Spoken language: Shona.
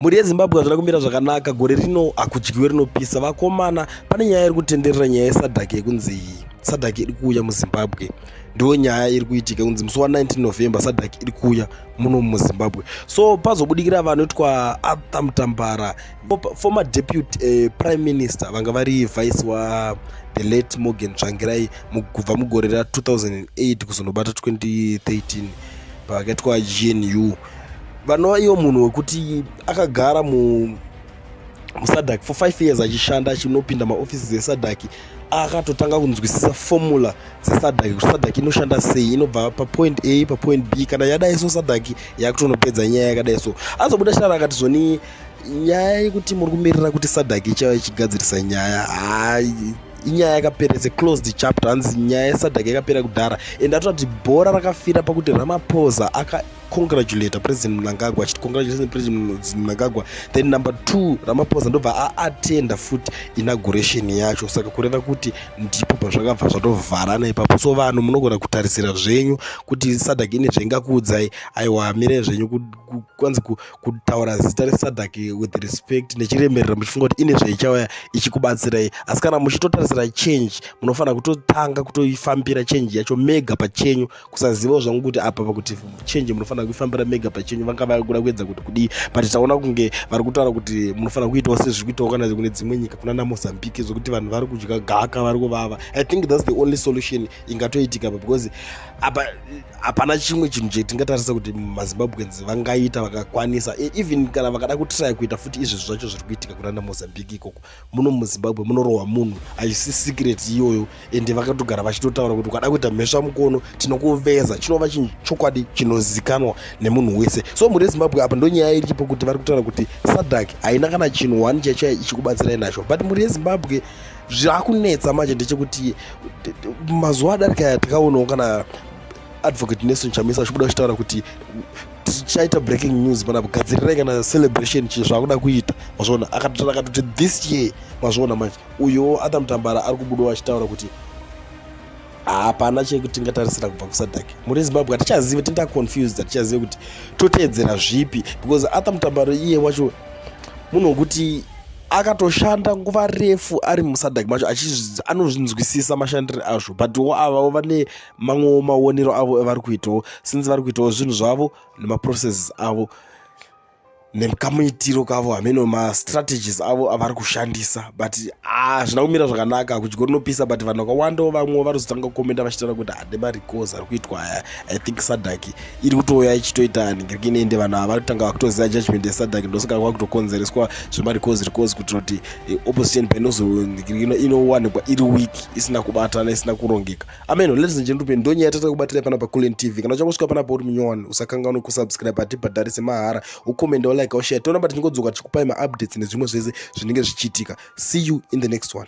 mhuri yezimbabwe hazvina kumira zvakanaka gore rino hakudyiwe rinopisa vakomana pane nyaya iri kutenderera nyaya yesadhaki yekunzi iyi sadhaki iri kuuya muzimbabwe ndiyo nyaya iri kuitika kunzi musi wa19 november sadhaki iri kuuya muno muzimbabwe so pazobudikira vanhu itwa arthur mutambara former deputy uh, prime minister vanga vari vice wa the late morgan tsvangirai kubva mugore ra 2008 kuzonobata 2013 pavakaitwa gnu vanova ivo munhu wekuti akagara mu musadhaki for five years achishanda achinopinda maofisi dzesadhaki akatotanga kunzwisisa formula dzesadhaki kuti sadhaki inoshanda sei inobva papoint a papoint b kana yadai so sadhaki yakutonopedza nyaya yakadai so azobuda shara akati zvoni nyaya yekuti muri kumirira kuti sadhaki ichava ichigadzirisa nyaya haa inyaya yakapera its a closed chapter hanzi nyaya yesadhaki yakapera kudhara and atoda kuti bhora rakafira pakuti ramapoza congratulator president mnangagwa achiti congratulations president mnangagwa then number two ramaphosa ndobva aatenda futi inauguration yacho saka kureva kuti ndipo pazvakabva zvatovharana ipapo so vanhu munogona kutarisira zvenyu kuti sadak ine zvaingakuudzai aiwa hamire zvenyu kwanzi kutaura zita resadak with respect nechiremerera muchifunga kuti ine zvaichauya ichikubatsirai asi kana muchitotarisira change munofanira kutotanga kutoifambira change yacho mega pachenyu kusazivawo zvangu kuti apa pakuti change munofanira kuifambira mega pachenyu vanga vakuda kuedza kuti kudii but taona kunge vari kutaura kuti munofanira kuitawo sezviri kuitawo kana kune dzimwe nyika kuna namozambique zvekuti vanhu vari kudya gaka vari kuvava i think thats the only solution ingatoitika apa because apa hapana chimwe chinhu chetingatarisa kuti mazimbabweans vangaita vakakwanisa e, even kana vakada kutraya kuita futi izvezvi zvacho zviri kuitika kuna namozambique ikoko muno muzimbabwe munorohwa munhu haisi secret iyoyo ende vakatogara vachitotaura kuti ukada kuita mhesva mukono tinokuveza chinova chinhu chokwadi chinozikanwa nemunhu wese so mhuri yezimbabwe apa ndonyaya iripo kuti vari kutaura kuti sadak haina kana chinhu one chaicho ichikubatsirai nacho but mhuri yezimbabwe zvakunetsa manje ndechekuti mazuva adarika aya takaonawo kana advocate nelson chamisa achibuda achitaura kuti tichaita breaking news pana gadzirirai kana celebration chii zvaakuda kuita mazviona akatotaura akatoti this year mazviona manje uyowo atha mutambara ari kubudawo achitaura kuti hapana chekutingatarisira kubva kusadak muri zimbabwe hatichazive tinda confused hatichazive kuti toteedzera zvipi because atha mutambaro iye wacho munhu wekuti akatoshanda nguva refu ari musadak macho anozvinzwisisa mashandiro azvo but wo avavo vane mamwewo maonero avo evari kuitawo since vari kuitawo zvinhu zvavo nemaprocesses avo nekamuitiro kavo hameno mastrategies avo avari kushandisa but hazvina ah, kumira zvakanaka kudya rinopisa but vanhu vakawandawo vamwewo vanozotanga kukomenda vachitaura kuti hade marikozi ari kuitwa aya i think sadak iri kutouya ichitoita haningiriki inoende vanhu ava vari kutanga vakutoziva judgment yesadak ndosaka kwava kutokonzereswa zvemarikozi rikozi kuitira kuti eh, opposition penozohingiriki inowanikwa iri weak isina kubatana isina kurongeka ameno ladies and gentlemen ndonye yatata kubatira pana paculen tv kana uchangosvika pana pauri munyowani usakanganwe kusubscribe hatibhadharise mahara ukomenda ulike ushare tonamba tichingodzoka tichikupai maupdates nezvimwe zvese zvinenge zvichiitika see you in the next one